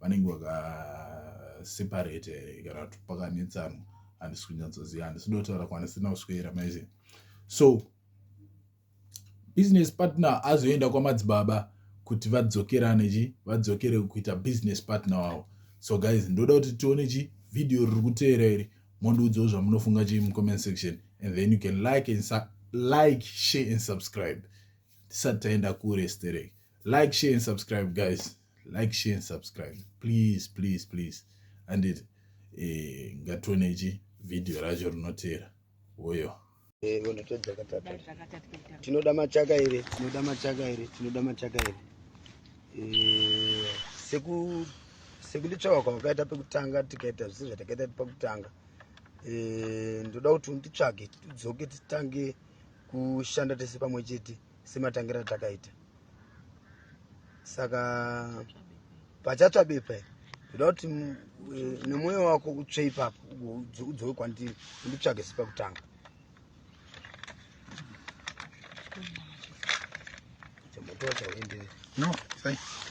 vanenge vakaseparate here kana kuti pakanetsana handisi kunyatsoziva handisi dotaura kwanisina kuswera maizi so business partner azoenda kwamadzibaba kuti vadzokerane chi vadzokere kuita business partner wavo so guys ndoda kuti tione chi video riri kuteera iri mondiudzawo zvamunofunga chii mucomment section and then you can like and like share and subscribe tisati taenda kure sterek like share and subscribe guys like share and subscribe please please please andit eh, ngatione ichi vhidhiyo racho rinoteera woyo eh, tinoda machaka iri tinoda machaka iri tinoda machaka iri eh, seku sekulitsvaka kwawakaita pekutanga tikaita zvisi zvatakaita pakutanga ndoda kuti unditsvage tidzoke titange kushanda tese pamwe chete sematangira atakaita saka pachatsva bepa iri ndoda kuti eh, nemwoyo wako utsve ipapo udzoke kwandiri unditsvage sepakutanga No, thank you.